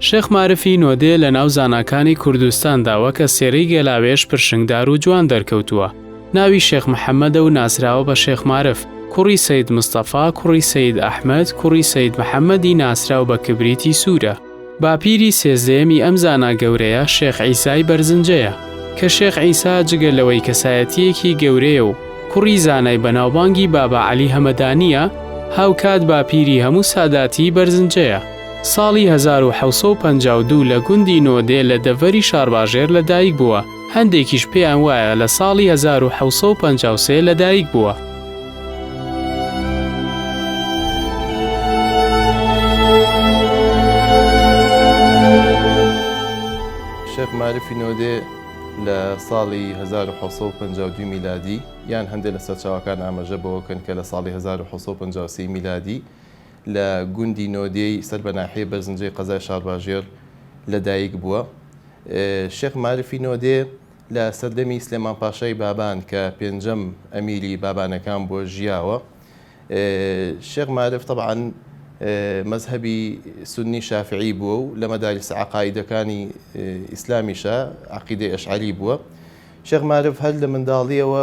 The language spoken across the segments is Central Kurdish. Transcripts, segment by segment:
شێخ مارفی نۆدێ لە ناو زاناکانی کوردستاندا وەکە سێرەی گێلاوێژ پرشنگدار و جوان دەرکەوتووە. ناوی شێخ محەممەدە و ناسراوە بە شێخ مارف، کوڕی سەید مستەفا، کوڕی سەید ئەحمەد، کوڕی سەید محەممەدی ناسراو بە کبریتی سوورە. باپیری سێزدەیەمی ئەم زانا گەورەیە شێخ عیسای بەرزنجەیە، کە شێخ عیسا جگە لەوەی کەسایەتییەکی گەورەیە و کوڕی زانای بەناوبانگی بابا عەلی هەمەدانییە، هاوکات باپیری هەموو ساداتی بەرزنجەیە. ساڵی هەزار و حەوت سەد و پەنجا و دوو لە گوندی نۆدێ لە دەڤەری شارباژێر لەدایک بووە، هەندێکیش پێیان وایە لە ساڵی هەزار و حەوت سەد و پەنجا و سێ لەدایک بووە. شێخ مارفی نۆدێ لە ساڵی هەزار و حەوت سەد و پەنجا و دوو میلادی یان هەندێ لە سەرچاوەکان ئامەژە بەوە بکەن کە لە ساڵی هەزار و حەوت سەد و پەنجا و سێ میلادی لە گوندی نۆدێی سەر بە ناحیەی بەرزنجەی قەزای شارباژێڕ لە دایک بووە. شێخ مارفی نۆدێ لە سەردەمی سلێمان پاشای بابان کە پێنجەم ئەمیری بابانەکان بووە ژیاوە. شێخ مارف تەبعەن مەزهەبی سوننی شافعی بووە و لە مەدارس عەقائیدەکانی ئیسلامیشە عەقیدەی ئەشعەری بووە. شێخ مارف هەر لە منداڵییەوە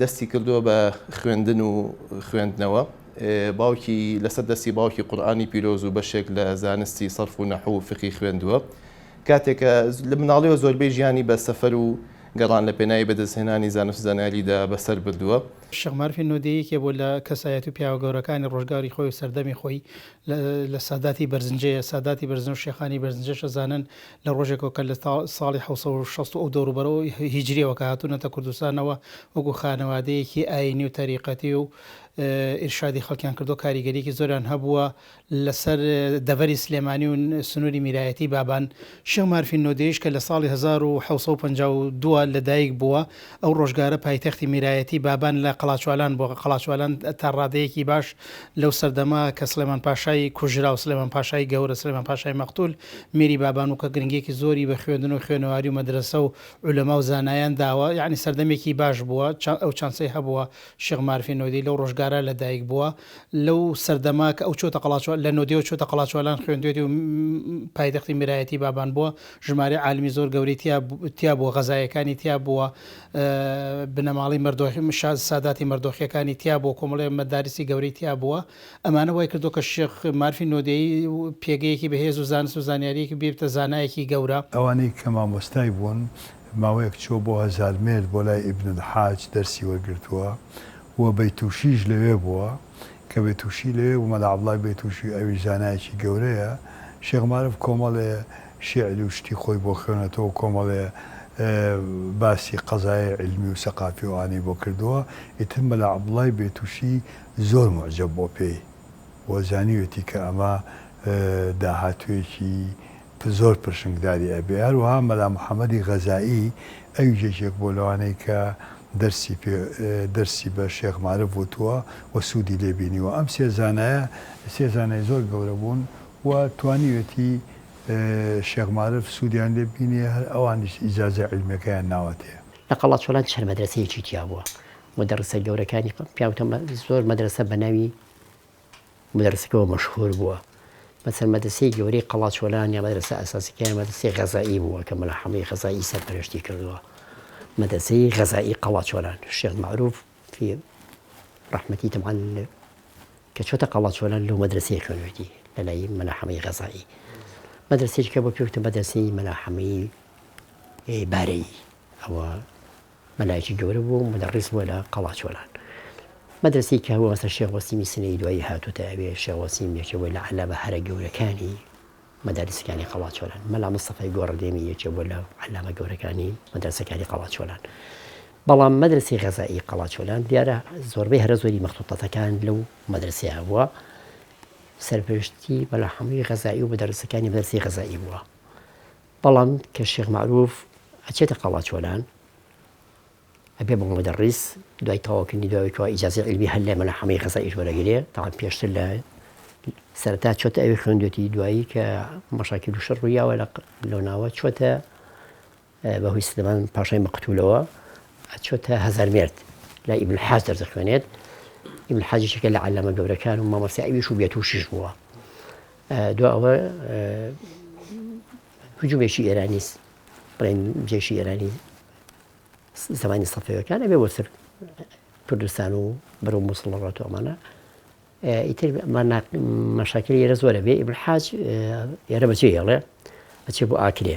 دەستی کردووە بە خوێندن و خوێندنەوە. باوکی لەسەر دەستی باوکی قورئانی پیرۆز و بەشێک لە زانستی سەرف و نەحو و فقی خوێندووە. کاتێک کە لە مناڵیەوە زۆربەی ژیانی بە سەفەر و گەڕان لە پێناوی بەدەستهێنانی زانست و زانیاریدا بەسەر بردووە. شێخ مارفی نۆدێ یەکێ بووە لە کەسایەت و پیاوە گەورەکانی ڕۆژگاری خۆی و سەردەمی خۆی لە ساداتی بەرزنجەیە. ساداتی بەرزنجە و شێخانی بەرزنجەش ئەزانن لە ڕۆژێکەوە کە لە ساڵی حەوت سەد و شەست و ئەو دەوروبەرەوە هیجرییەوە کە هاتوونەتە کوردستانەوە وەکوو خانەوادەیەکی ئایینی و تەریقەتی و ئیرشادی خەڵکیان کردووە کاریگەریەکی زۆریان هەبووە لەسەر دەڤەری سلێمانی و سنووری میرایەتی بابان شێخ مارفی نۆدێیش کە لە ساڵی 1952 لە دایک بووە ئەو ڕۆژگارە پایتەختی میرایەتی بابان لە قەڵاچوالان بۆ قەڵاچوالان تا ڕادەیەکی باش لەو سەردەما کە سلێمان پاشای کوژرا و سلێمان پاشای گەورە سلێمان پاشای مەقتول میری بابانو کە گرنگیەکی زۆری بە خوێندن و خوێنەواری و مەدرەسە و عولەما و زانایان داوە یانی سەردەمێکی باش بووە چا ئەو چانسەی هەبووە شێخ مارفی نۆدێی لەو ڕۆژگارە لە دایک بووە لەو سەردەمە کە ئەو چۆتە قەڵاچۆ لە نۆدێوە چۆتە قەڵاچۆلان خوێندوێتی و پایتەختی میرایەتی بابان بووە ژمارەی عالمی زۆر گەورەی تیا تیا بووە غەزایەکانی تیا بووە بنەماڵەی مەردۆخی مشاز ساداتی مەردۆخیەکانی تیا بووە کۆمەڵێ مەدارسی گەورەی تیا بووە ئەمانە وای کردووە کە شێخ مارفی نۆدێیی پێگەیەکی بەهێز و زانست و زانیارییەکی ببێتە زانایەکی گەورە. ئەوانەی کە مامۆستای بوون، ماوەیەک چووە بۆ هەزارمێرد بۆ لای ئیبن الحاج دەرسی وەرگرتووە و بەیتوشیش لەوێ بووە، کە بەیتوشی لەوێ بوو مەلا عەبدوڵای بەیتوشی ئەویش زانایەکی گەورەیە، شێخ مارف کۆمەڵێ شیعر و شتی خۆی بۆ خوێنەتەوە و کۆمەڵێ باسی قەزایای عیلمی و سەقافی و ئەوانەی بۆ کردووە، ئیتر مەلا عەبدوڵای بەیتوشی زۆر موعجەب بۆ پێی و زانیوێتی کە ئەمە داهاتوویەکی زۆر پرشنگداری ئەبێ. هەروەها مەلا محەمەدی غەزائی ئەویش یەکێک بووە لەوانەی کە دەرسی پێ دەرسی بە شێخ مارف وتووە و سوودی لێ بینیوە. ئەم سێ زانایە سێ زانای زۆر گەورە بوون و توانیوێتی شێخ مارف سوودیان لێ ببینێ، هەر ئەوانیش ئیجازەی عیلمیەکەیان ناوەتێ. لە قەڵاچۆلان چەند مەدرەسەیەکی تیا بووە. مدەڕسە گەورەکانی پیاوتە زۆر مەدرەسە بەناوی مدەڕسەکەوە مەشهور بووە مەسەر مەدرسەی گەورەی قەڵاچۆلان یا مەدرسە ئەساسەکەیان مەدرسەی غەزایی بووە کە مەلا حەمەی غەزایی سەرپەرشتی کردووە مەدرسەی غەزایی قەڵاچۆلان شێخ معروف فی ڕحمەتی تەمان کە چۆتە قەڵاچۆلان لەو مەدرسەی خوێنوێتی لەلای مەلا حەمەی غەزایی مەدرسێکە بۆ پێوتە مەدرسەی مەلا حەمەی بارەی ئەوە مەلایەکی گەورە بووە و مودەڕیس بووە لە قەڵاچۆلان. مەدرەسەی کەهوە بەسەر شێخ وەسیمی سنەیی دوایی هاتووتە ئەوێ، شێخ وەسیم یەکێ بووە لە عەلامە هەرە گەورەکانی مەدارسەکانی قەڵاچۆلان. مەلا مستەفای گۆڕەدێمی یەکێ بووە لە عەلامە گەورەکانی مەدرەسەکانی قەڵاچۆلان. بەڵام مەدرەسەی غەزائی قەڵاچۆلان دیارە زۆربەی هەرە زۆری مەخطوطەتەکان لەو مەدرەسەیە هەبووە. سەرپەرشتی مەلا حەمەی غەزائی و مودەڕیسەکانی مەدرەسەی غەزائی بووە. بەڵام کە شێخ مەعروف ئەچێتە قەڵاچۆلان ئەبێ بۆ مدەڕیس دوای تەواوکردنی دوای کەوا ئیجازەی عیلمی هەر لای مەلا حەمەی غەزائیش وەرەگرێ تەعام پێشتر لە سەرەتا چۆتە ئەوی خوێندوێتی دوایی کە مەشاکیل و شەڕ ڕوویاوە لە لەو ناوە چۆتە بەهۆی سلێمان پاشای مەقتولەوە چۆتە هەزار مێرد لە ئیبن حاج دەردەخوێنێت ئیبن حاجیشەکە لە عەلامە گەورەکان و مامەسیعویش و بێتوشیش بووە دوا ئەوە هجومێکی ئێرانی بڵێن جێشی ئێرانی زمانی سەفەوەکان ئەبێ بۆسەر کوردستان و بەرە مووسڵ ڕاتۆمانە ئیتر مەشاکری ئێرە زۆرە بێ ئیبرحاج ئێرە بەچێ هێڵێ بەچێ بۆ ئاکرێ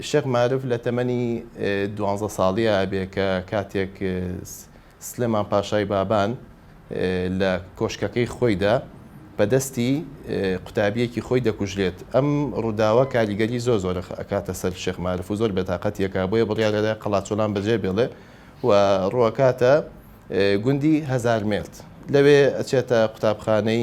شێخ مارف لە تەمەنی دوانزە ساڵییا ئەبێ کە کاتێک سلێمان پاشای بابان لە کۆشکەکەی خۆیدا بە دەستی قوتابییەکی خۆی دەکوژرێت. ئەم ڕووداوە کاریگەری زۆر زۆر ئەکاتە سەر شێخ مارف و زۆر بێتاقەتی ئەکا، بۆیە بڕیار ئەدا قەڵاچۆلان بەجێ بێڵێ و ڕوو ئەکاتە گوندی هەزارمێرد. لەوێ ئەچێتە قوتابخانەی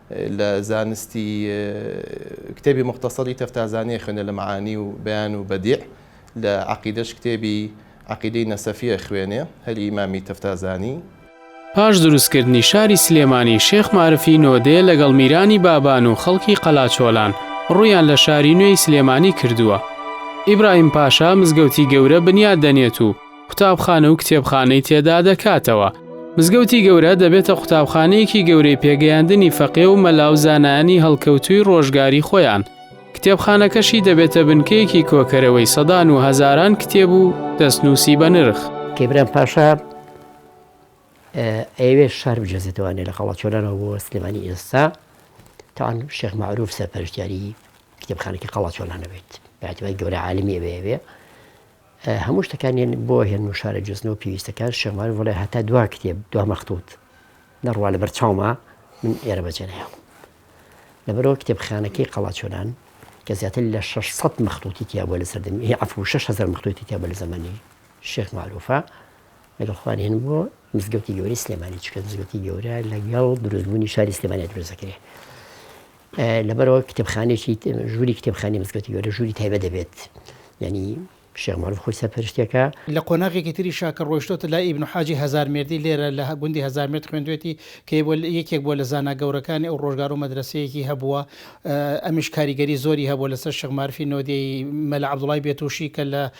لە زانستی کتێبی موختەسەری تەفتازانیە خوێندە لە معانی و بەیان و بەدیع لە عەقیدەش کتێبی عەقیدەی نەسەفیە خوێنێ هەر ئیمامی تەفتازانی. پاش دروستکردنی شاری سلێمانی شێخ مارفی نۆدێ لەگەڵ میرانی بابان و خەڵکی قەلاچۆلان ڕوویان لە شاری نوێی سلێمانی کردووە ئیبراهیم پاشا مزگەوتی گەورە بنیات دەنێت و قوتابخانە و کتێبخانەی تێدا دەکاتەوە. مزگەوتی گەورە دەبێتە قوتابخانەیەکی گەورەی پێگەیاندنی فەقێ و مەلا و زانایانی هەڵکەوتووی ڕۆژگاری خۆیان، کتێبخانەکەشی دەبێتە بنکەیەکی کۆکەرەوەی سەدان و هەزاران کتێب و دەستنووسی بەنرخ. کەیبران پاشا ئەیەوێت شار بجێزێتەوە لە قەڵاچۆلانەوە بۆ سلێمانی ئێستا تاوان شێخ معروف سەرپەرشتیاری کتێبخانەکە قەڵاچۆلانەبێت بەعتبای گەورە عالمی ئەوێ هەموو شتەکان یەن بۆ هێن و شارە جزن و پێویستەکان شێخ مارف وەڵێ هەتا دوا کتێب دوا مەختووت نەڕوا لە بەر چاوما من ئێرە بەجێ نەهێڵم لەبەرەوە کتێبخانەکەی قەڵاچۆلان کە زیاتر لە 600 مەختووتی تیا بووە لە سەردەمی هی عەفو 6هزار مەختووتی تیا بووە لە زەمەنی شێخ معروفە لەگەڵ خوان هێن بۆ مزگەوتی گەورەی سلێمانی چکە مزگەوتی گەورە لەگەڵ دروستبوونی شاری سلێمانی دروست دەکرێت لەبەرئەوە کتێبخانەیەکی ژووری کتێبخانەی مزگەوتی گەورە ژووری تایبەت دەبێت یانی شێخ مەعروف خۆی سەرپەرشتیەکا. لە قۆناغێکی تریشا کە ڕۆیشتۆتە لای ئیبن حاجی هەزارمێردی لێرە لە گوندی هەزارمێرد خوێندوێتی کە یەکێک بووە لە زانا گەورەکانی ئەو ڕۆژگارو مەدرەسەیەکی هەبووە ئەمیش کاریگەری زۆری هەبووە لەسەر شێخ مارفی نۆدێی مەلا عەبدوڵای بێتووشی کە لە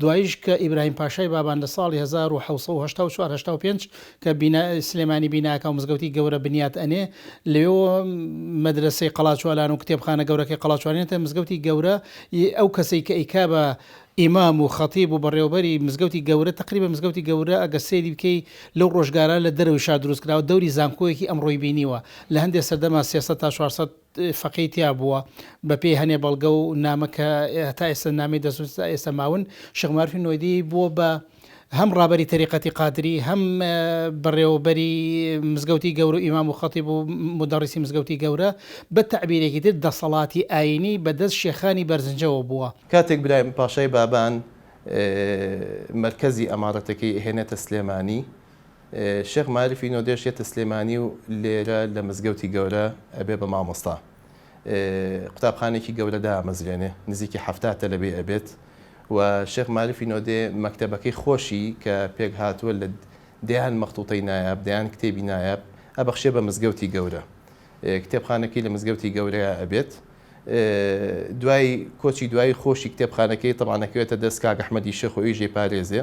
دواییش کە ئیبراهیم پاشای بابان لە ساڵی هەزار و حەوت سەد و هەشتا و چوار هەشتا و پێنج کە بینا سلێمانی بیناکە و مزگەوتی گەورە بنیات ئەنێ لەوێوە مەدرەسەی قەڵاچوالان و کتێبخانە گەورەکەی قەڵاچوالان ئێتە مزگەوتی گەورە ی ئەو کەسەی کە ئەیکا بە ئیمام و خەتیب و بەڕێوەبەری مزگەوتی گەورە تەقریبەن مزگەوتی گەورە ئەگەر سەیری بکەی لەو ڕۆژگارە لە دەرەوەی شار دروست کراوە دەوری زانکۆیەکی ئەمڕۆی بینیوە لە هەندێ سەردەما سێ سەد تا چوار سەد فەقێی تیا بووە بە پێی هەنێ بەڵگە و نامە کە تا ئێستا نامی دەسوس تا ئێستا ماون شێخ مارفی نۆیدی بووە بە هەم ڕابەری تەریقەتی قادری هەم بەڕێوەبەری مزگەوتی گەورە ئیمام و خەتی بوو مدەڕیسی مزگەوتی گەورە بە تعبیرێکی تر دەسەڵاتی ئاینی بەدەست شێخانی بەرزنجەوە بووە. کاتێک برایم پاشای بابان مەرکەزی ئەمارەتەکەی ئەهێنێتە سلێمانی، شێخ مارفی نۆدێش یەتە سلێمانی و لێرە لە مزگەوتی گەورە ئەبێ بە مامۆستا قوتابخانێکی گەورە دامەزرێنێ نزیکی حەفتا تەلەبەی ئەبێت و شێخ مارفی نۆدێ مەکتەبەکەی خۆشی کە پێک هاتووە لە دەیان مەختوتەی نایاب دەیان کتێبی نایاب ئەبەخشێ بە مزگەوتی گەورە کتێبخانەکەی لە مزگەوتی گەورەیە ئەبێت دوای کۆچی دوایی خۆشی کتێبخانەکەی تەمانەکەوێتە دەست کاک ئەحمەدی شێخ و ئیژێ پارێزێ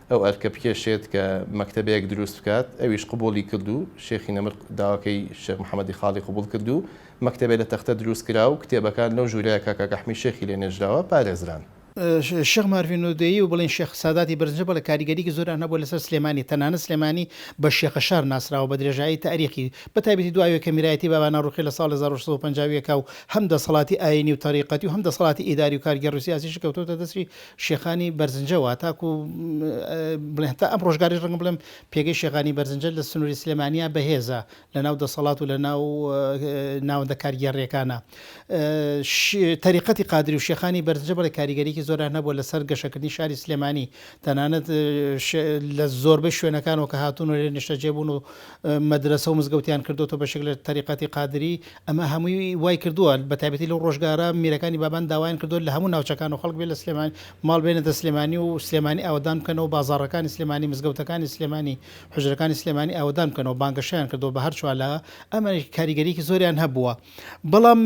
ئەو ئەرکە بکێشێت کە مەکتەبەیەک دروست بکات، ئەویش قبووڵی کرد و شێخی نەمر داواکەی شێخ محەمەدی خاڵی قبووڵ کرد و مەکتەبێ لە تەختە دروست کرا و کتێبەکان لەو ژوورەیە کە کاک ئەحمی شێخی لێ نێژراوە پارێزران. شێخ مارفی نۆدێیی و بڵێین شێخ ساداتی بەرزنجە بەڵێ کاریگەرییەکی زۆریان هەبووە لەسەر سلێمانی، تەنانەت سلێمانی بە شێخەشار ناسراوە بە درێژایی تاریخی، بە تایبەتی دو ئاوێکە میرایەتی بابانە ڕووخی لە ساڵی هەزار و شەش سەد و پەنجا و یەک ە و هەم دەسەڵاتی ئایینی و تەریقەتی و هەم دەسەڵاتی ئیداری و کارگێڕی و سیاسیی کەوتۆتە دەستی شێخانی بەرزنجە وا تاکو بڵێن تا ئەم ڕۆژگاریش ڕەنگە بڵێم پێگەی شێخانی بەرزنجە لە سنووری سلێمانیا بەهێزە لە ناو دەسەڵات و لە ناو ناوەندە کارگێڕیەکانە تەریقەتی قادری و شێخانی بەرزنجە بڵێ کاریگەریکی زۆران نەبووە لەسەر گەشەکردنی شاری سلێمانی تەنانەت لە زۆربەی شوێنەکانەوە کە هاتوون و لێ نیشتەجێ بوون و مەدرەسە و مزگەوتیان کردۆتە بەشێک لە تەریقەتی قادری، ئەمە هەمووی وای کردووە بە تایبەتی لەو ڕۆژگارە میرەکانی بابان داوایان کردووە لە هەموو ناوچەکانەوە خەڵک بێ لە سلێمانی ماڵ بێنێتە سلێمانی و سلێمانی ئاوەدان بکەنەوە بازاڕەکانی سلێمانی مزگەوتەکانی سلێمانی حوجرەکانی سلێمانی ئاوەدان بکەنەوە بانگەشەیان کردووە بە هەر چوار لا ئەمەش کاریگەریەکی زۆریان هەبووە. بەڵام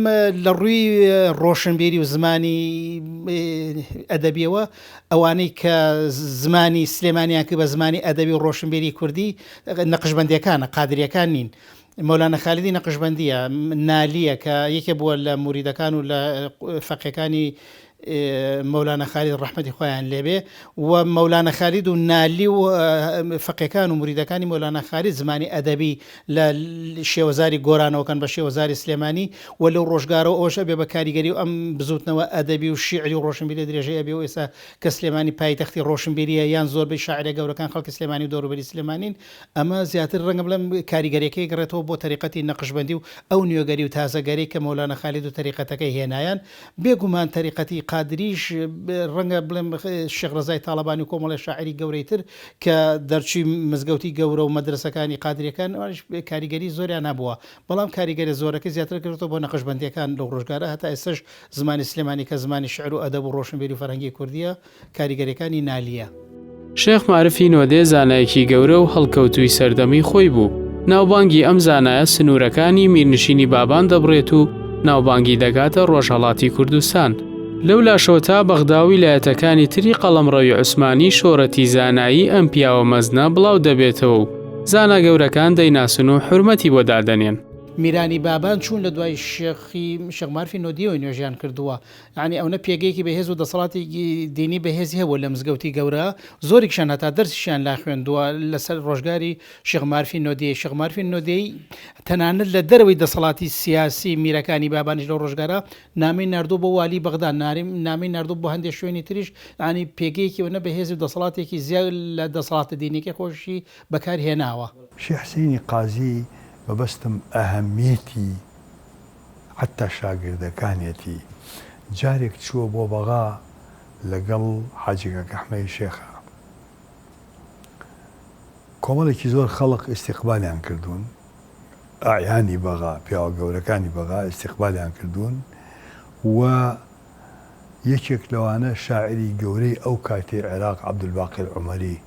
لە ڕووی ڕۆشنبیری و زمانی ئەدەبیەوە ئەوانەی کە زمانی سلێمانیان کرد بە زمانی ئەدەبی و ڕۆشنبیری کوردی نەقشبندەکانە قادریەکان نین. مەولانە خالیدی نەقشبندیە نالیە کە یەکێ بووە لە موریدەکان و لە فەقێکانی مەولانا خالید ڕەحمەتی خوایان لێبێ و مەولانا خالید و نالی و فەقێکان و مریدەکانی مەولانا خالید زمانی ئەدەبی لە شێوەزاری گۆرانەوەکەن بە شێوەزاری سلێمانی و لەو ڕۆژگارەوە ئەوەش ئەبێ بە کاریگەری و ئەم بزوتنەوە ئەدەبی و شیعری و ڕۆشنبیری درێژەی ئەبێ و ئێستا کە سلێمانی پایتەختی ڕۆشنبیریە یان زۆربەی شاعرە گەورەکان خەڵکی سلێمانی و دەوروبەری سلێمانین ئەمە زیاتر ڕەنگە بڵێم کاریگەریەکەی گەڕێتەوە بۆ تەریقەتی نەقشبەندی و ئەو نوێگەری و تازەگەری کە مەولانا خالید و تەریقەتەکەی هێنایان بێ گومان تەریقەتی قادرییش، ڕەنگە بڵێم شێخ ڕەزای تاڵەبانی و کۆمەڵێ شاعیری گەورەی تر کە دەرچووی مزگەوتی گەورە و مەدرەسەکانی قادرییەکان، ئەوانیش کاریگەریی زۆریان هەبووە، بەڵام کاریگەریە زۆرەکەی زیاتر کەوتۆتە بۆ نەقشبەندییەکان لەو ڕۆژگارە، هەتا ئێستەش زمانی سلێمانی کە زمانی شیعر و ئەدەب و ڕۆشنبیری و فەرهەنگی کوردییە، کاریگەریەکانی نالیە. شێخ مارفی نۆدێ زانایەکی گەورە و هەڵکەوتووی سەردەمی خۆی بوو، ناوبانگی ئەم زانایە سنوورەکانی میرنشینی بابان دەبڕێت و ناوبانگی دەگاتە ڕۆژهەڵاتی کوردستان، لەولاشەوە تا بەغدا و ویلایەتەکانی تری قەڵەمڕەوی عوسمانی شۆرەتی زانایی ئەم پیاوە مەزنە بڵاو دەبێتەوە و زانا گەورەکان دەیناسن و حورمەتی بۆ دادەنێن. میرانی بابان چوون لە دوای شێخ مارفی نۆدیەوەی نوێژیان کردووە، یانی ئەونە پێگەیەکی بەهێز و دەسەڵاتێکی دینی بەهێزی هەبووە لە مزگەوتی گەورە، زۆریکشان هەتا دەرسیشیان لا خوێندووە لە سەر ڕۆژگاری شێخ مارفی نۆدێی، شێخ مارفی نۆدێی تەنانەت لە دەرەوەی دەسەڵاتی سیاسی میرەکانی بابانیش لەو ڕۆژگارە نامەی ناردووە بۆ والی بەغدا، نامەی ناردووە بۆ هەندێ شوێنی تریش، یانی پێگەیەکی ئەونە بەهێز و دەسەڵاتێکی زیاد لە دەسەڵاتە دینیەکەی خۆیشی بەکار هێناوە. شێخ حسێنی قازی مەبەستم ئەهەمیەتی حەتتا شاگردەکانیەتی جارێک چووە بۆ بەغا لەگەڵ حاجی کاک ئەحمەی شێخا کۆمەڵێکی زۆر خەڵق ئیستیقبالیان کردوون ئایانی بەغا پیاوە گەورەکانی بەغا ئیستیقبالیان کردوون و یەکێک لەوانە شاعری گەورەی ئەو کاتی عێراق عەبدولباقی عومەری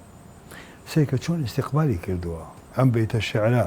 سەیکە چۆن ئیستیقبالی کردووە ئەم بەیتە شعرە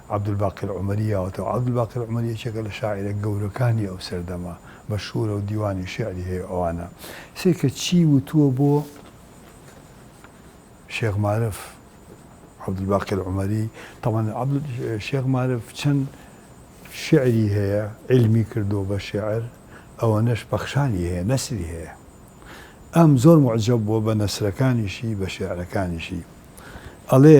عەبدولباقر عومەری یاوەتەوە، عەبدولباقر عومەری یەکێکە لە شاعیرە گەورەکانی ئەو سەردەمە، مەشهوورە و دیوانی شیعری هەیە ئەوانە. سەیرکە چی وتووە بۆ شێخ مارف عەبدولباقر عومەری، تەبعەن شێخ مارف چەند شیعری هەیە عیلمی کردووە بە شیعر، ئەوەنەش پەخشانی هەیە، نەسری هەیە. ئەم زۆر موعجەب بووە بە نەسرەکانیشی، بە شیعرەکانیشی. ئەڵێ.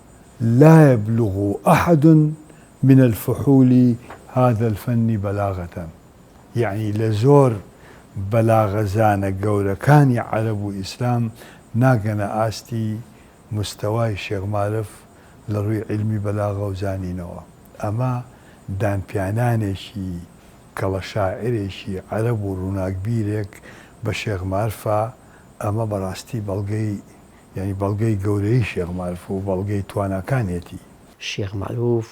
لا یبلغ احد من الفحول هذا الفن بلاغە یەعنی لە زۆر بەلاغەزانە گەورەکانی عەرەب و ئیسلام ناگەنە ئاستی مستەوای شێخ مارف لە ڕووی عیلمی بەلاغە و زانینەوە ئەمە دانپیانانێکی کەڵە شاعرێکی عەرەب و ڕووناکبیرێک بە شێخ مارفە ئەمە بەڕاستی بەڵگەی یانی بەڵگەی گەورەیی شێخ مارف و بەڵگەی تواناکانیەتی. شێخ مارف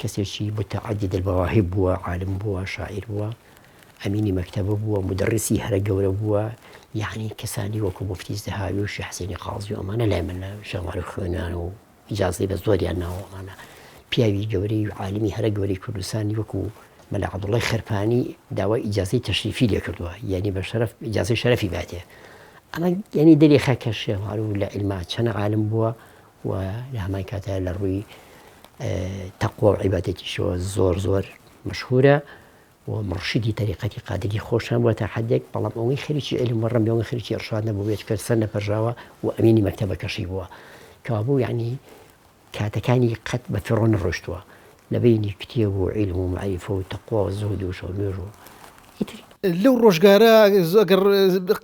کەسێکی متعدد المواهب بووە، عالم بووە، شاعیر بووە، ئەمینی مەکتەبە بووە، مودەڕیسی هەرە گەورە بووە، یانی کەسانی وەکو موفتی زەهاوی و شێخ حسێنی قازی و ئەمانە لای من لە شێخ مارف خوێنیان و، ئیجازەی بە زۆریان ناوە ئەمانە. پیاوی گەورەی و عالمی هەرە گەورەی کوردستانی وەکو مەلا عەبدوڵڵای خەرپانی داوای ئیجازەی تەشریفی لێ کردووە، یانی بە شەرەف ئیجازەی شەرەفی باتێ. ئەمە یانی دەریخا کە شێخ مەعروف لە عیلما چەند عالم بووە و لە هەمان کاتە لە ڕووی تەقوا و عیبادەتیشەوە زۆر زۆر مشهورە و مڕشیدی تەریقەتی قادری خۆشیان بووە تا حەدێک، بەڵام ئەوەی خەریکی عیلم و ڕەمبێ و خەریکی ئیڕشاد نەبووە بێ چکە سەر نەپەرژاوە و ئەمینی مەکتەبەکەشی بووە. کەوابوو یەعنی کاتەکانی قەت بە فیڕۆ نەڕۆیشتووە لە بەینی کتێب و عیلم و مەعریفە و تەقوا و زوهد و شەو نوێژ و ئیتر. لەو ڕۆژگارە گەر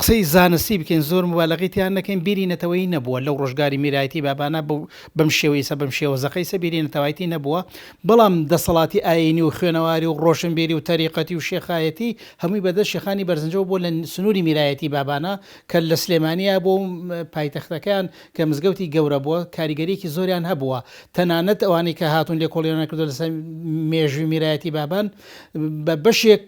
قسەی زانستی بکەین زۆر موبالەغەی تیا نەکەین بیری نەتەوەیی نەبووە لەو ڕۆژگاری میرایەتی بابانە بەم شێوەیسە بەم شێوە زەقەیسە بیری نەتەوایەتی نەبووە بەڵام دەسەڵاتی ئایینی و خوێنەواری و ڕۆشنبیری و تەریقەتی و شێخایەتی هەمووی بەدەست شێخانی بەرزنجەوە بووە لە سنووری میرایەتی بابانە کە لە سلێمانییە بووە و پایتەختەکەیان کە مزگەوتی گەورە بووە کاریگەرییەکی زۆریان هەبووە تەنانەت ئەوانەی کە هاتوون لێکۆڵینەوەیان کردووە لەسەر مێژووی میرایەتی بابان بە بەشێک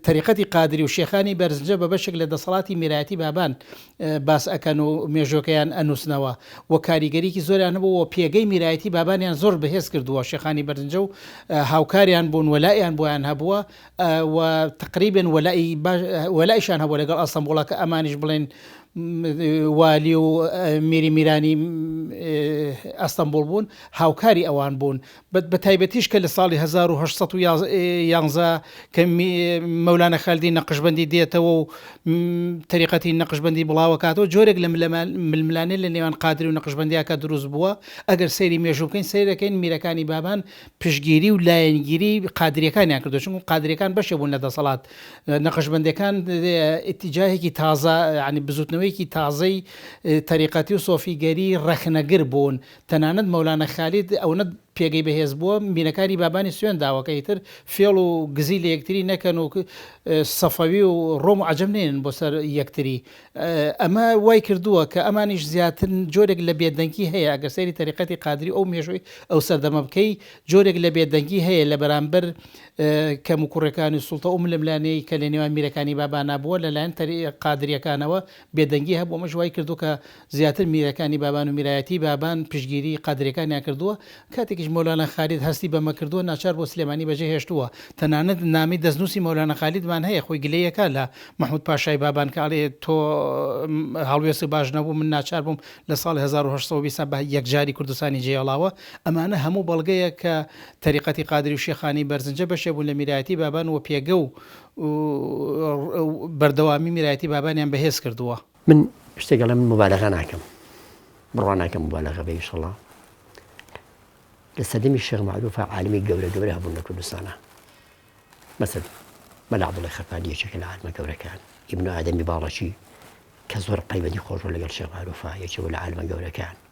تەریقەتی قادری و شێخانی بەرزنجە بە بەشێک لە دەسەڵاتی میرایەتی بابان باس ئەکەن و مێژوەکەیان ئەنوسنەوە و کاریگەریکی زۆریان هەبوو و پێگەی میرایەتی بابانیان زۆر بەهێز کردووە شێخانی بەرنجە و هاوکاریان بوون وەلائیان بۆیان هەبووە و تقریبێن وەلائی وەلائیشان هەبوو لەگەڵ ئەستەمبوڵە کە ئەمانیش بڵێن والی و میری میرانی ئەستەمبوڵ بوون هاوکاری ئەوان بوون بەتایبەتیش کە لە ساڵی هەزار و هەشت سەد و یازدە کە مەولانا خالدی نەقشبەندی دێتەوە و تەریقەتی نەقشبەندی بڵاوەکاتەوە جۆرێک لە ململانێ لە نێوان قادری و نەقشبەندیاکە دروست بووە ئەگەر سەیری مێژوو بکەین سەیر دەکەین میرەکانی بابان پشگیری و لایەنگیری قادریەکانیان کردو چون قادریەکان بەشێ بوون لە دەسەڵات نەقشبەندەکان ئتیجاهێکی تازە ینی بزوتنەوەیەکی تازەی تەریقەتی و سۆفیگەری ڕەخنەگر بوون تەنانەت مەولانا خالید ئەونە پێگەی بەهێز بووە مینەکانی بابانی سوێند داوە کە ئیتر فێڵ و گزی لە یەکتری نەکەن و سەفەوی و ڕۆم و عەجەم نێنن بۆ سەر یەکتری ئەمە وای کردووە کە ئەمانیش زیاتر جۆرێک لە بێدەنگی هەیە ئەگەر سەیری تەریقەتی قادری ئەو مێژووی ئەو سەردەمە بکەی جۆرێک لە بێدەنگی هەیە لە بەرامبەر کەموکوڕیەکانی سوڵتە ئەو ململانێی کە لە نێوان میرەکانی بابانا بووە لەلایەن قادریەکانەوە بێدەنگی هەبوو، ئەمەش وای کردووە کە زیاتر میرەکانی بابان و میرایەتیی بابان پشتگیریی قادرییەکانیان کردووە، کاتێکیش مەولانا خالید هەستی بەمە کردووە، ناچار بۆ سلێمانی بەجێ هێشتووە، تەنانەت نامەی دەستنووسی مەولانا خالیدمان هەیە، خۆی گلەی ئەکا لە مەحموود پاشای بابان کە ئەڵێ تۆ هەڵوێستت باش نەبوو، من ناچار بووم لە ساڵی هەزار و هەشت سەد و بیست بە یەکجاری کوردستانی جێ هێڵاوە، ئەمانە هەموو بەڵگەیە کە تەریقەتی قادری و شێخانی بەرزنجە بەشێک بوون لە میرایەتیی بابان و پێگە و و بەردەوامی میرایەتی بابانیان بەهێز کردووە. من شتێک ئەڵێم موبالەغە ناکەم بڕوا ناکەم موبالەغە بێ ئیشەڵا لە سەردەمی شێخ معروفە عالمی گەورە گەورە هەبوون لە کوردستانە مەسەد مەلا عبدڵی خەفانی یەکێکە لە عالمە گەورەکان ئیبن ئادەمی باڵەچی کە زۆر قەیبەتی خۆشە لەگەڵ شێخ معروفە یەکێکە لە عالمە گەورەکان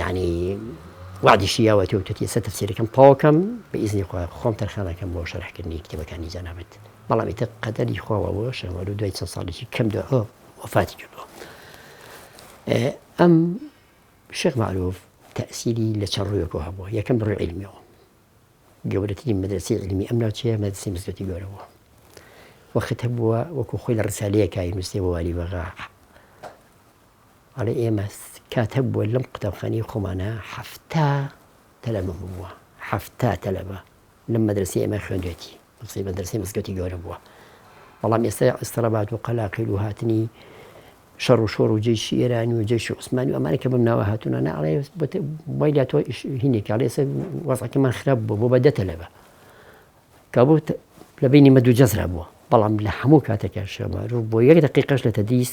یانی وادیشی یاوە تۆ توتی سە تەفسیرەکەم تاوکەم بە ئیزنی خۆ خۆم تەرخانەکەم بۆ شەرحکردنی کتێبەکانی جەنابەت بەڵام ئیتە قەدەری خۆەوە شەوە و دوای چەند ساڵێکی کەم دو وفاتی کردووە ئەم شێخ معروف تەسیری لە چە ڕوویەکە هەبوو یەکەم بڕی علمیەوە گەورەترین مەدرسی علمی ئەم ناوچەیە مەدرسی مزگەتی گەورەوە وەخت هەبووە وەکو خۆی لە ڕسالەیەکای نووسێ بۆ والی بەغا ئەڵێ ئێمە کات هەبووە لەم قوتابخانەی خۆمانا حەفتا تەلەبە بووە، حەفتا تەلەبە لەم مەدرەسەی ئێمە خوێندوێتی، قسەی مەدرەسەی مزگەوتی گەورە بووە، بەڵام ئێستا ئیستڕابات و قەلاقیل و هاتنی شەڕ و شۆڕ و جەیشی ئێرانی و جەیشی عوسمانی و ئەمانە کە بەم ناوە هاتوونە نا ئەڵێ وای لە تۆ هینێکی ئەڵێ ئێستا وەزعەکەمان خراپ بووە بۆ بە دە تەلەبە کابوو لە بینی مە دوو جەزرا بووە بەڵام لە هەموو کاتەکە شەمارو بۆ یەک دقیقەش لە تەدریس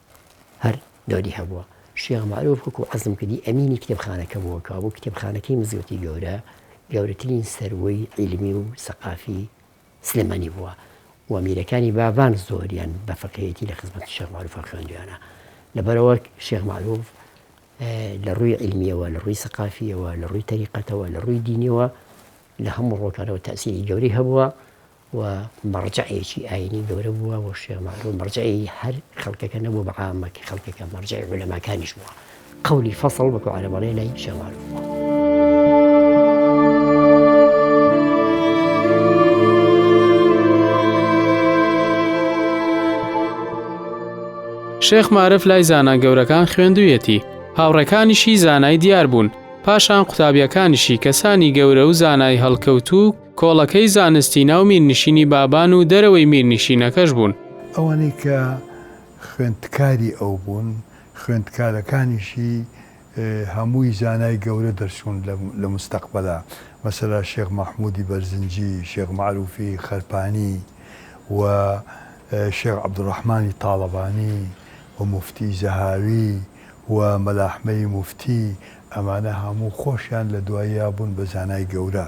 هەر دۆدی هەبووە. شێخ مەعروف وەکو عەزم کردی ئەمینی کتێبخانەکە بووە، کەوابوو کتێبخانەکەی مزگەوتی گەورە گەورەترین سەروەی عیلمی و سەقافی سلێمانی بووە و میرەکانی باڤان زۆریان بە فەقێیەتی لە خزمەتی شێخ مەعروفا خوێندویانە. لەبەرئەوە شێخ مەعروف لە ڕووی عیلمییەوە، لە ڕووی سەقافییەوە، لە ڕووی تەریقەتەوە، لە ڕووی دینییەوە لە هەموو ڕووەکانەوە تەئسیری گەورەی هەبووە. و مەڕجەعێکی ئایینی گەورە بووە و شێخ مەعرووف مەڕجەعی هەر خەڵکەکە نەبووە بە عامە کە خەڵکەکە مەڕجەعی عولەماکانیش بووە قەولی فەسڵ وەکوو عەرەب ئەڵێ لای شێخ مەعرووف بووە. شێخ مارف لای زانا گەورەکان خوێندویەتی هاوڕێکانیشی زانای دیار بوون پاشان قوتابیەکانیشی کەسانی گەورە و زانای هەڵکەوتوو کۆڵەکەی زانستی ناو میرنشینی بابان و دەرەوەی میرنشینەکەش بوون. ئەوانەی کە خوێندکاری ئەو بوون، خوێندکارەکانیشی هەمووی زانای گەورە دەرچوون لە مستەقبەلا، مەسەلا شێخ مەحموودی بەرزنجی، شێخ مەعرووفی خەرپانی و شێخ عەبدولڕەحمانی تاڵەبانی و موفتی زەهاوی و مەلاحمەی موفتی، ئەمانە هەموو خۆشیان لە دواییا بوون بە زانای گەورە.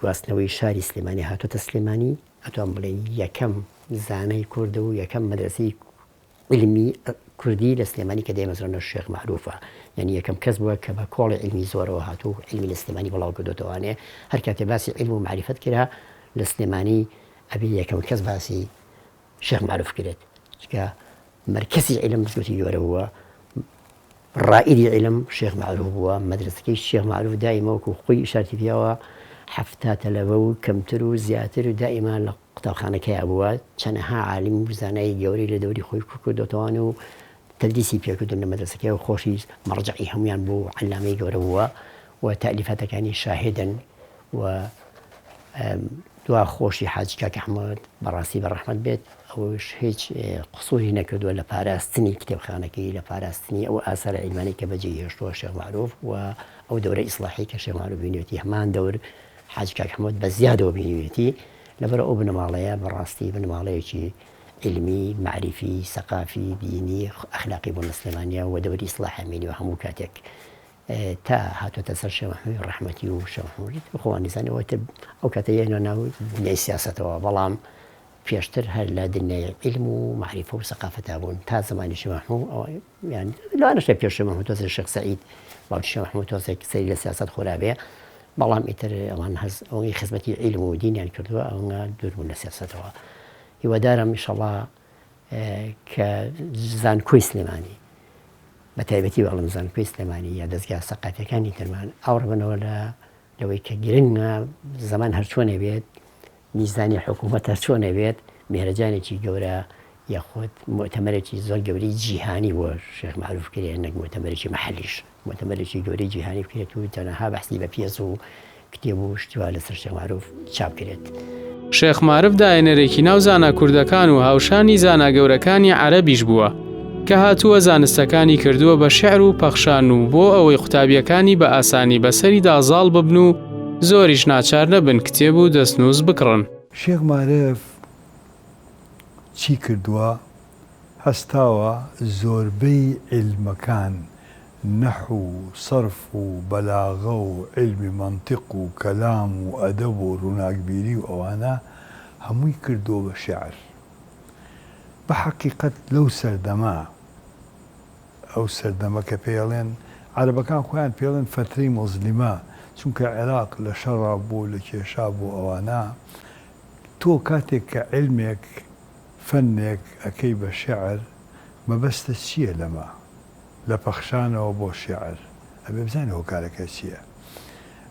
گواستنەوەی شاری سلێمانی هاتۆتە سلێمانی، ئەتوان بڵێن یەکەم زانای کورد و یەکەم مەدرەسەی علمی کوردی لە سلێمانی کە دەیمەزرانە شێخ مەعروفە یانی یەکەم کەس بووە کە بە کۆڵی علمی زۆرەوە هاتوو و علمی لە سلێمانی بڵاو کردۆتەوانێ هەر کاتێ باسی علم و مەعریفەت کرا لە سلێمانی ئەبێ یەکەم کەس باسی شێخ مەعروف کرێت چکە مەرکەزی عیلم مزگەوتی گەورە بووە ڕائیدی عیلم شێخ مەعروف بووە مەدرسەکەی شێخ مەعروف دایمە وەکو خۆی ئیشارتی پیاوە حەفتا تەلەبە و کەمتر و زیاتر و دائیمە لە قوتابخانەکەیا بووە چەنەها عالم و زانای گەورەی لە دەوری خۆی کوکردۆتەوان و تدریسی پێکردن لە مەدرسەکەی و خۆشی مەڕجعی هەمویان بوو عەلامەی گەورە بووە و تالیفاتەکانی شاهدن و دوا خۆشی حاجی کاک احمد بەڕاستی بە ڕەحمەت بێت ئەوش هیچ قسوری نەکردوە لە پاراستنی کتێبخانەکەی لە پاراستنی ئەو ئاسارە عیلمانی کە بەجێ هێشتوە شێخ مەعروف و ئەو دەورە ئیسڵاحی کە شێخ مەعروف بینێتی هەمان دەور حاجی کاک احمد بە زیادەوە بینێتی لەبەر ئەو بنەماڵەیە بەڕاستی بنەماڵەیەکی علمی معریفی سەقافی دینی ئەخلاقی بۆ نە سلێمانیا و دەوری ئیسڵاح مینی و هەموو کاتێک تا هاتۆتە سەر شێخ محمەدی ڕەحمەتی و شێخ محمەدی تر خۆ وانیزانی ئەوە تر ئەو کاتە یەنە ناو دنیای سیاسەتەوە بەڵام پێشتر هەر لە دنیای علم و معریفە و سەقافەتا بوون تا زمانی شێخ محمود ئەوە یان لەوانەشە پێش شێخ محمود تۆزێ شێخ سعید بەڵام شێخ محمود تۆزێک سەری لە سیاسەت خۆرابێ بەڵام ئیتر ئەوان هەز ئەوەی خزمەتی علم و دینیان کردووە ئەوە دوور بوون لە سیاسەتەوە هیوادارم ئیشەڵا کە زانکۆی سلێمانی بە تایبەتی بەڵم زانکۆی سلێمانی یا دەستگا سەقاتەکانی ترمان ئاوڕبنەوە لە لەوەی کە گرنگە زەمان هەرچۆنێ بێت میزانی حکوومەت هەرچۆنێ بێت مێرەجانێکی گەورە یاخود متەمەرێکی زۆر گەوری جیهانی بۆ شێخ معروف کرێ نەک متەمەرێکی محلیش مۆتەمەرێکی گەورەی جیهانی بکرێت و تەنەها بەحسی بە پیەس و کتێب و شتی وا لەسەر شێخ مارف چاپ کرێت. شێخ مارف داێنەرێکی ناو زانا کوردەکان و هاوشانی زانا گەورەکانی عەرەبیش بووە، کە هاتووە زانستەکانی کردووە بە شعر و پەخشان و بۆ ئەوەی قوتابیەکانی بە ئاسانی بە سەریدا زاڵ ببن و زۆریش ناچار نەبن کتێب و دەستنووس بکڕن. شێخ مارف چی کردووە؟ هەستاوە زۆربەی عیلمەکان، نەحو و سەرف و بەلاغە و عیلمی مەنتیق و کەلام و ئەدەب و ڕووناکبیری و ئەوانە، هەمووی کردووە بە شێعر. بە حەقیقەت لەو سەردەمە، ئەو سەردەمە کە پێیەڵێن، عەرەبەکان خۆیان پێڵێن فەترەی موزلیمە، چونکە عێراق لە شەڕا بوو، لە کێشا بوو ئەوانە، تۆ کاتێک کە عیلمێک، فەنێک ئەکەی بە شێعر مەبەستت چییە لەمە؟ لە پەخشانەوە بۆ شێعر ئەبێ بزانین هۆکارەکەی چییە؟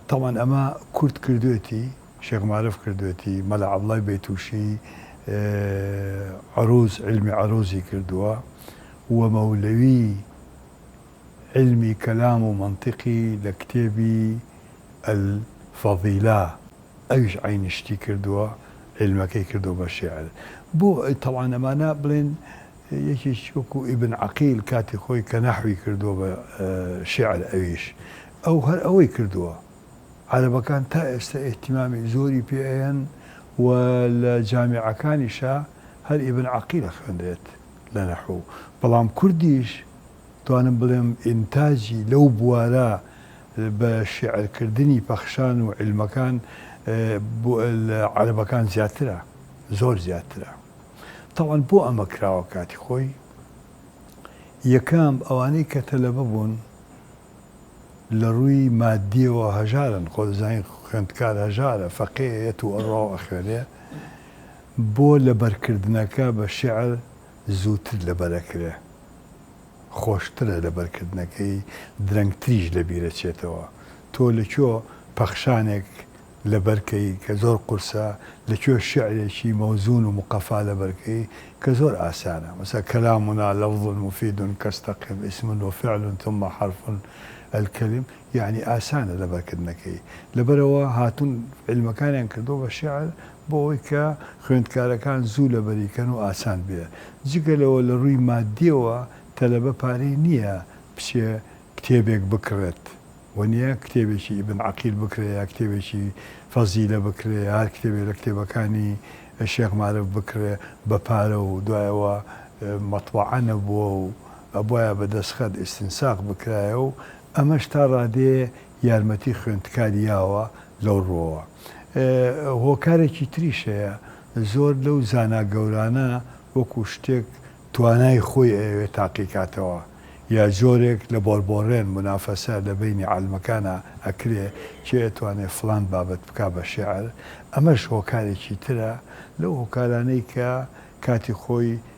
تەبعەن ئەمە کورد کردوێتی، شێخ مارف کردوێتی، مەلا عەبڵای بەیتووشی عرووز، عیلمی عرووزی کردووە و مەولەوی عیلمی کەلام و مەنتیقی لە کتێبی الفەضیلە ئەویش عەینی شتی کردووە عیلمەکەی کردووە بە شیعر بۆ تەبعەن ئەمانە بڵێن یەکێکی وەکو ئیبن عەقیل کاتی خۆی کە نەحوی کردووە بە شیعر ئەویش ئەو هەر ئەوەی کردووە عەرەبەکان تا ئێستا ئیهتیمامی زۆری پێ ئەیەن و لە جامیعەکانیشا هەر ئیبن عەقیل ئەخوێنرێت لە نەحو بەڵام کوردیش دەتوانم بڵێم ئینتاجی لەو بوارە بە شیعرکردنی پەخشان و عیلمەکان لە عەرەبەکان زیاترە، زۆر زیاترە. تەبعەن بۆ ئەمە کراوە کاتی خۆی، یەکەم ئەوانەی کە تەلەبە بوون لە ڕووی ماددیەوە هەژارن، خۆت دەزانی خوێندکار هەژارە، فەقێیە یەت و ئەڕوا و ئەخوێنێ، بۆ لەبەرکردنەکە بە شیعر زووتر لەبەر ئەکرێ. خۆشترە لەبەرکردنەکەی درەنگ تریش لەبیرە چێتەوە تۆ لەکوێ پەخشانێک لەبەر کەی کە زۆر قورسە لەکوێ شیعرێکی مەوزون و مقەفا لەبەر کەی کە زۆر ئاسانە مثلا کلامنا لفظ مفید کاستقم اسم وفعل ثم حرف الکلم یەعنی ئاسانە لەبەرکردنەکەی، لەبەرئەوە هاتوون عیلمەکانیان کردووە بە شیعر بۆ ئەوەی کە خوێندکارەکان زوو لەبەری کەن و ئاسان بێ، جگە لەوە لە رووی ماددیەوە تەلەبە پارەی نییە بچێ کتێبێک بکڕێت، وەنیە کتێبێکی ئیبن عەقیل بکرێ یا کتێبێکی فەزیلە بکرێ یا هەر کتێبێ لە کتێبەکانی شێخ مارف بکڕێ بە پارە و دوای ئەوە مەتبەعە نەبووە و ئەبوایە بە دەستخەت ئیستنساخ بکرایە و ئەمەش تا ڕادەیە یارمەتی خوێندکار یاوە لەو ڕووەوە. هۆکارێکی تریش هەیە، زۆر لەو زانا گەورانە وەکوو شتێک توانای خۆی ئەیەوێ تاقیکاتەوە یا جۆرێک لە بۆڕبۆڕێن، منافەسە، لە بەینی عالمەکانا ئەکرێ، کێ ئەتوانێ فڵان بابەت بکا بە شێعر، ئەمەش هۆکارێکی ترە لەو هۆکارانەی کە کاتی خۆی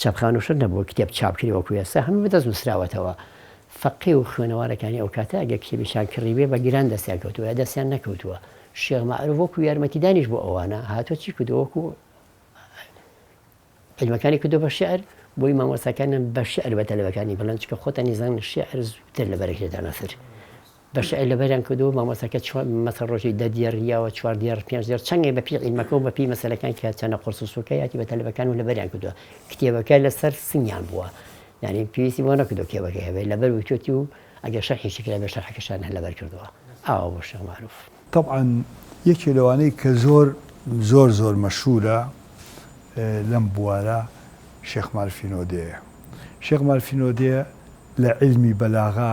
چاپخانەشر نەبوو کتێب چاپ کرێ وەکو ئێستا هەموو بەدەست نوسراوەتەوە فەقێ و خوێنەوارەکانی ئەو کاتە ئەگەر کتێبێکیان کڕیبێ بە گران دەستیان کەوتووە یا دەستیان نەکەوتووە شێخ مەعروف وەکو یارمەتیدانیش بۆ ئەوانە هاتووە چی کردووە وەکو علمەکانی کردو بە شعر بۆی مامۆستاکانیان بە شعر بە تەلەبەکانی بڵێن چکە خۆتانی زان شعر زووتر لە بەرەکێدا نەسر بە شعر لەبەریان کردووە و مامۆستاکە چوار مەسەڵ ڕۆژێ دە دێڕ یاوە، چوار دێڕ، پێنج دێڕ، چەنگێ بە پیی عیلمەکە و بە پیی مەسەلەکان کە چەنە قوڕس و سووکە یاتی بە تەلەبەکان و لەبەریان کردووە. کتێبەکە لە سەر سنگیان بووە. یانی پێویستی بۆ نەکردووە کتێبەکەی هەبێ. لەبەر وتووەتی و ئەگەر شەرحیشی کرابێ شەرحەکەشان هەر لەبەر کردووە. ئاوا بوو شێخ مەعرووف. تەبعەن یەکێ لەوانەی کە زۆر زۆر زۆر مەشهوورە لەم بوارە شێخ مارفی نۆدێیە. شێخ مارفی نۆدێ لە عیلمی بەلاغە،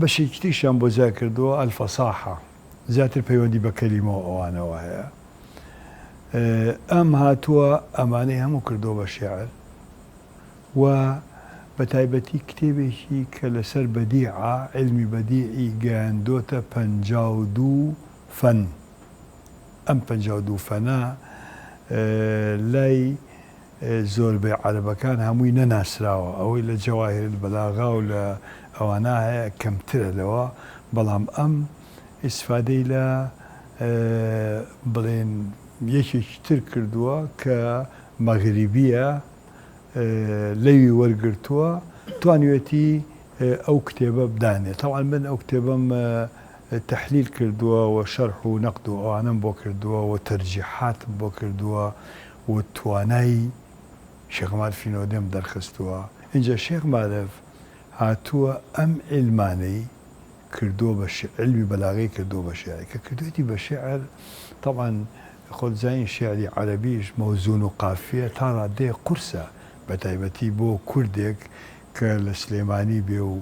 بەشێکی تریشیان بۆ جیا کردووە، الفصاحە، زیاتر پەیوەندی بە کەلیمە و ئەوانەوە هەیە. ئەم هاتووە ئەمانەی هەموو کردووە بە شێعر و بەتایبەتی کتێبێکی کە لەسەر بەدیعە، عیلمی بەدیعی گەیاندۆتە پەنجا و دوو فەن. ئەم پەنجا و دوو فەنە لای زۆربەی عەرەبەکان هەمووی نەناسراوە ئەوەی لە جواهر البلاغە و لە ئەوانە هەیە کەمترە لەوە بەڵام ئەم ئیسفادەی لە بڵێن یەکێکی تر کردووە کە مەغریبیە لەوی وەرگرتووە توانیوێتی ئەو کتێبە بدانێ تەبعەن من ئەو کتێبەم تەحلیل کردووە و شەرح و نەقد و ئەوانەم بۆ کردووە و تەرجیحاتم بۆ کردووە و توانای شێخ مارف ی نۆدەم دەرخستووە، ئینجا شێخ مارف هاتووە ئەم عیلمانەی کردووە بە شیعر، عیلمی بەلاغەی کردووە بە شیعر، کە کردوویەتی بە شیعر، تەبعەن خۆت دەزانی شیعری عەرەبیش مەوزون و قافیە تا ڕادەیەک قورسە، بە تایبەتی بۆ کوردێک کە لە سلێمانی بێ و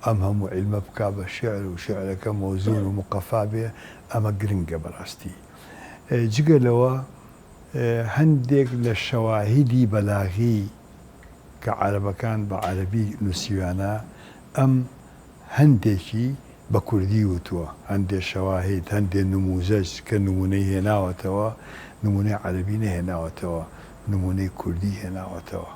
ئەم هەموو عیلمە بکا بە شیعر و شیعرەکە مەوزون و مقەفا بێ، ئەمە گرنگە بەڕاستی. جگە لەوە هەندێک لە شەواهیدی بەلاغی کە عەرەبەکان بە عەرەبی نووسیویانە، ئەم هەندێکی بە کوردی وتووە. هەندێ شەواهید، هەندێ نمووزەج کە نموونەی هێناوەتەوە، نموونەی عەرەبی نەهێناوەتەوە، نموونەی کوردی هێناوەتەوە.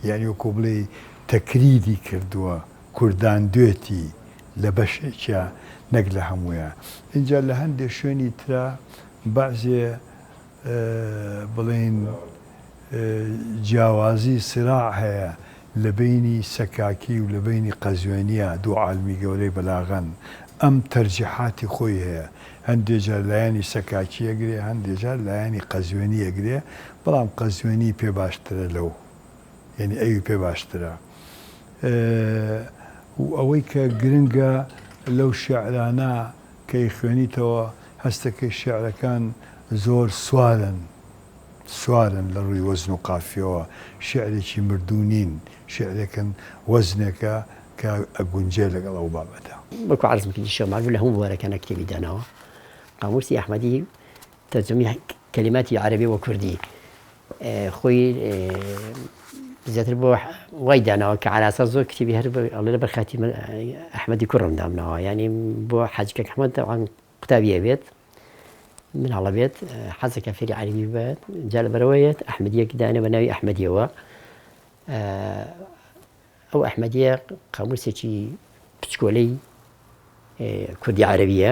یانی وەکوو بڵێی تەکریری کردووە، کورداندوێتی لە بەشێکیا نەک لە هەموویا. ئینجا لە هەندێ شوێنی ترا بەعسێ بڵێین جیاوازی سراع هەیە لە بەینی سەکاکی و لە بەینی قەزوێنیە دوو عالمی گەورەی بەلاغەن ئەم تەرجیحاتی خۆی هەیە هەندێ جار لایەنی سەکاکی ئەگرێ هەندێ جار لایەنی قەزوێنی ئەگرێ بەڵام قەزوێنی پێ باشترە لەو یەنی ئەوی پێ باشترە و ئەوەی کە گرنگە لەو شێعرانە کە ئیخوێنیتەوە هەستەکەی شیعرەکان زۆر سوارن سوارن لە ڕووی وەزن و قافیەوە شیعرێکی مردوو نین شیعرێکن وەزنێکە کە ئەگونجێ لەگەڵ ئەو بابەتە. وەکو عەرزم کردی شێخ مەعروف لە هەموو بوارەکانا کتێبی داناوە قاموسی ئەحمەدی تەرجەمەی کەلیماتی عەرەبی بۆ کوردی خۆی زیاتر بۆ وای داناوە کە عراسا زۆر کتێبی هەر ئەڵێ بەر خاتی ئەحمەدی کوڕم دامناوە ینی بۆ حەجکە حمە داوان قوتابیە بێت مناڵە بێت حەزەکە فێری عەربی بێت جا لە بەرەوەیەت ئەحمەدیەک دانە بە ناوی ئەحمەدیەوە ئەو ئەحمەدیە قاموسێکی پچکۆلەی کوردی عەربیە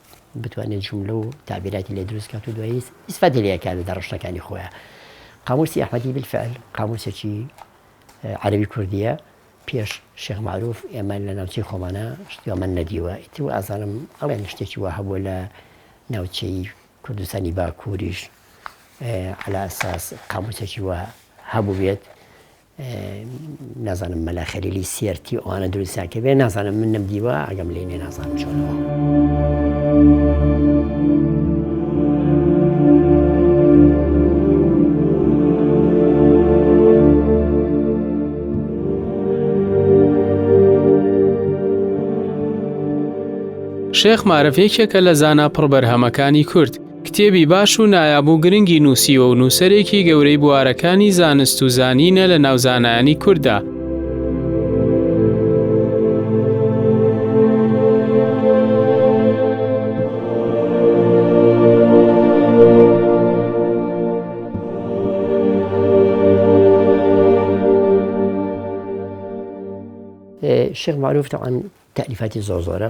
بتوانێت جوملە و تەعبیراتی لێ دروست کات و دوایی ئیسفادەی لێ کات لە ڕشتەکانی خۆیان. قاموسی ئەحمەدی بالفعل قاموسێکی عەرەبی کوردییە پێش شێخ معروف ئێمە لە ناوچەی خۆمانە شتیوەمان نەدیوە ئیتر و ئازانم ئەڵێن شتێکی وا هەبووە لە ناوچەی کوردستانی باکووریش على اساس قاموسێکی وا هەبوو بێت نازانم مەلا خەلیلی سێرتی ئەوانە دروستیان کردێ نازانم من نم دیوە ئەگەم لێ نێ نازانم چۆنەوە. شێخ مارف یەکێکە لە زانا پڕ بەرهەمەکانی کورد کتێبی باش و نایاب و گرنگی نووسیوە و نووسەرێکی گەورەی بوارەکانی زانست و زانینە لە ناو زانایانی کورددا. شێخ معروف تەعن تەعریفاتی زۆر زۆرە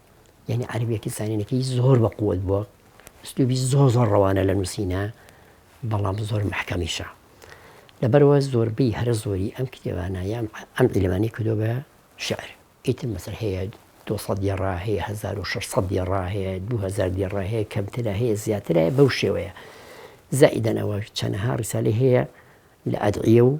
یانی عەرەبیەکەی زانینەکەی زۆر بە قوت بووە ئەسلوبی زۆر زۆر ڕەوانە لە نووسینە بەڵام زۆر محکەمیشە لەبەرەوە زۆربەی هەرە زۆری ئەم کتێبانە یان ئەم ئیلمانی کردو بە شعر ئیتر مەسەر هەیە 200 دیێڕا هەیە 1600 دیێڕا هەیە 2000 دیێڕا هەیە کەمترە هەیە زیاترە بەو شێوەیە زائیدەنەوە چەنەها ڕیسالی هەیە لە ئەدعە و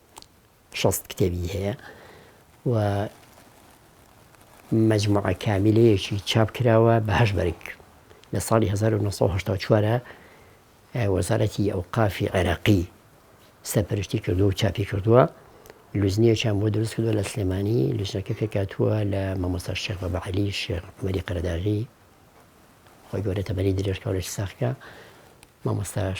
شەست کتێبی هەیە و مەجموعە کامیلەیەکی چاپ کراوە بە هەشت بەرگ لە ساڵی 1970 وەزارەتی ئەو قافی عێراقی سەرپەرشتی کردو و چاپی کردووە لوزنیەکیان بۆ دروست کردووە لە سلێمانی لوزنەکە پێکاتووە لە مەمۆستا شێخ بە بەعلی شێخ عمەری قەرداغی خۆی گەورە تەمەری درێژکەڵێک ساخکە مامۆستاش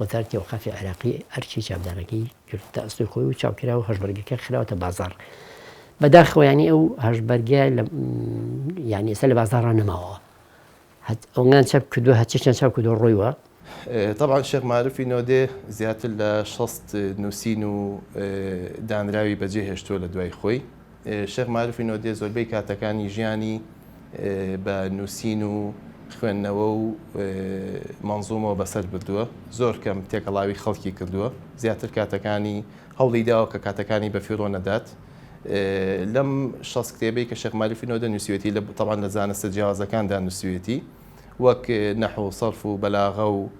وتار تێوقافی عێراقی ئەرکی چاودێرەکەی کرد کە ئەستۆی خۆی و چاوکرا و هەشبەرگەکە خراوەتە بازاڕ. بەداخەوە یانی ئەو هەشبەرگە یانی ئێستا لە بازاڕا نەماوە ئەوان چەپ کردووە هەچێکیان چاو کردووە ڕۆیوە. تەبعەن شێخ مارفی نۆدێ زیاتر لە شەست نووسین و دانراوی بەجێهێشتووە لە دوای خۆی. شێخ مارفی نۆدێ زۆربەی کاتەکانی ژیانی بە نووسین و خوێندنەوە و مەنزوومەوە بەسەر بردووە، زۆر کەم تێکەڵاوی خەڵکی کردووە، زیاتر کاتەکانی هەوڵی داوە کە کاتەکانی بە فیڕۆ نەدات. لەم شەست کتێبەی کە شێخ مارفی نۆدە نووسیوێتی، تەبعەن لە زانستە جیاوازەکاندا نووسیوێتی، وەک نەحو و سەرف و بەلاغە و،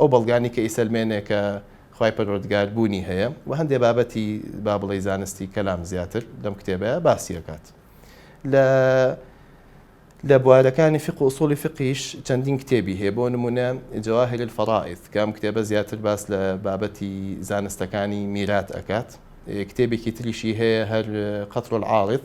ئەو بەڵگانەی کە ئیسەلمێنێ کە خوای پەروەردگار بوونی هەیە و هەندێ بابەتی با بڵێی زانستی کەلام زیاتر لەم کتێبەیە باسیەکات لە لە بوارەکانی فق و ئوسوڵی فقیش چەندین کتێبی هەیە بۆ نمونە جواهر الفرائض کە ئەم کتێبە زیاتر باس لە بابەتی زانستەکانی میرات ئەکات کتێبێکی تریشی هەیە هەر قەتر العارض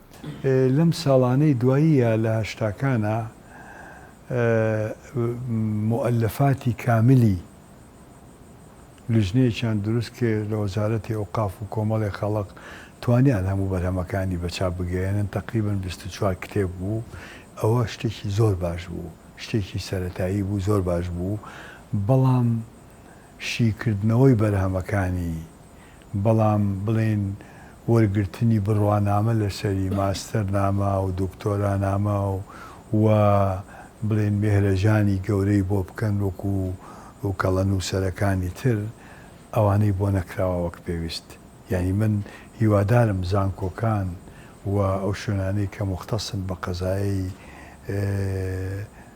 لەم ساڵانەی دواییە لە هەشتاکانا موئەلەفاتی کاملی لیژنەیەکیان دروست کرد لە وەزارەتی ئەوقاف و کۆمەڵێ خەڵق توانیان هەموو بەرهەمەکانی بە چاپ بگەیەنن تەقریبەن بیست و چوار کتێب بوو ئەوە شتێکی زۆر باش بوو شتێکی سەرەتایی بوو زۆر باش بوو بەڵام شیکردنەوەی بەرهەمەکانی بەڵام بڵێین وەرگرتنی بڕوانامە لەسەری ماستەر نامە و دکتۆرا نامە و و بڵێین مێهرەجانی گەورەی بۆ بکەن وەکو کەڵە نووسەرەکانی تر ئەوانەی بۆ نەکراوە وەک پێویست یانی من هیوادارم زانکۆکان و ئەو شوێنانەی کە موختەسن بە قەزایەی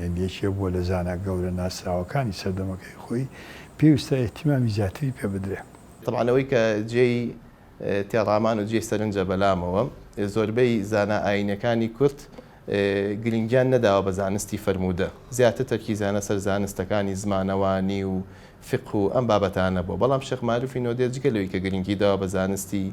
یەن یەکێ بووە لە زانا گەورە ناسراوەکانی سەردەمەکەی خۆی، پێویستە ئیهتیمامی زیاتری پێ بدرێ. تەبعەن ئەوەی کە جێی تێڕامان و جێی سەرنجە بەلامەوە زۆربەی زانا ئایینیەکانی کورد گرینگیان نەداوە بە زانستی فەرموودە، زیاتر تەرکیزیانە سەر زانستەکانی زمانەوانی و فیقه و ئەم بابەتانە بووە، بەڵام شێخ مەعروفی نۆدێ جگە لەوەی کە گرینگی داوە بە زانستی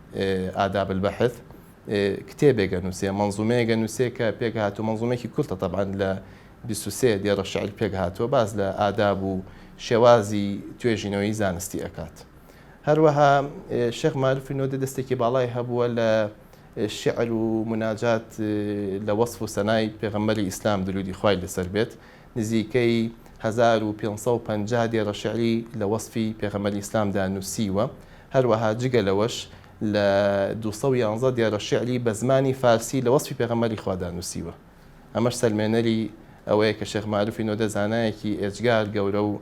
آداب البحث، کتێبێگە نووسێ، مەنزوومەیەگە نووسێ کە پێکهاتوو، مەنزوومەیەکی کورتە تەبعەن لە بیست و سێ دێڕە شعر پێکهاتووە، باس لە ئاداب و شێوازی توێژینەوەی زانستی ئەکات. هەروەها شێخ مارفی نۆدە دەستێکی باڵای هەبووە لە شعر و مناجات لە وەصف و سەنای پێغەمبەری ئیسلام درودی خوای لەسەر بێت نزیکەی هەزار و پێنج سەد و پەنجا دێڕە شیعری لە وەسفی پێغەمبەری ئیسلامدا نووسیوە، هەروەها جگە لەوەش لە دوو سەد و یازدە دێڕە شیعری بە زمانی فارسی لە وەسفی پێغەمبەری خوادا نووسیوە. ئەمەش سەلمێنەری ئەوەیە کە شێخ مەعروفی نۆدە زانایەکی ئێجگار گەورە و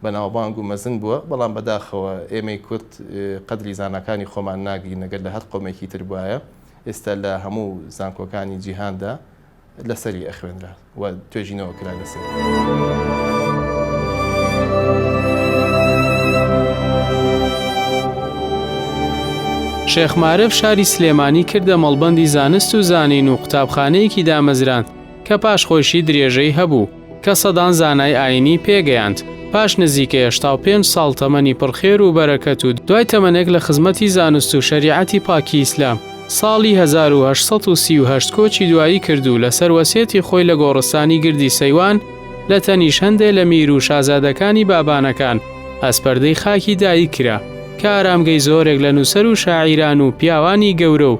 بەناوبانگ و مەزن بووە، بەڵام بەداخەوە ئێمەی کورد قەدری زاناکانی خۆمان ناگرین، ئەگەر لە هەر قەومێکی تر بوایە ئێستا لە هەموو زانکۆکانی جیهاندا لەسەری ئەخوێنرا و توێژینەوە کرا لەسەر. شێخ مارف شاری سلێمانی کردە مەڵبەندی زانست و زانین و قوتابخانەیەکی دامەزراند کە پاش خۆشی درێژەی هەبوو کە سەدان زانای ئایینی پێ گەیاند، پاش نزیکەی هەشتا و پێنج ساڵ تەمەنی پڕ خێر و بەرەکەت و دوای تەمەنێک لە خزمەتی زانست و شەریعەتی پاکی ئیسلام، ساڵی هەزار و هەشت سەد و سی و هەشت کۆچی دوایی کرد و لەسەر وەسیەتی خۆی لە گۆڕستانی گردی سەیوان لە تەنیش هەندێ لە میر و شازادەکانی بابانەکان ئەسپەردەی خاکی دایک کرا کە ئارامگەی زۆرێک لە نووسەر و شاعیران و پیاوانی گەورە و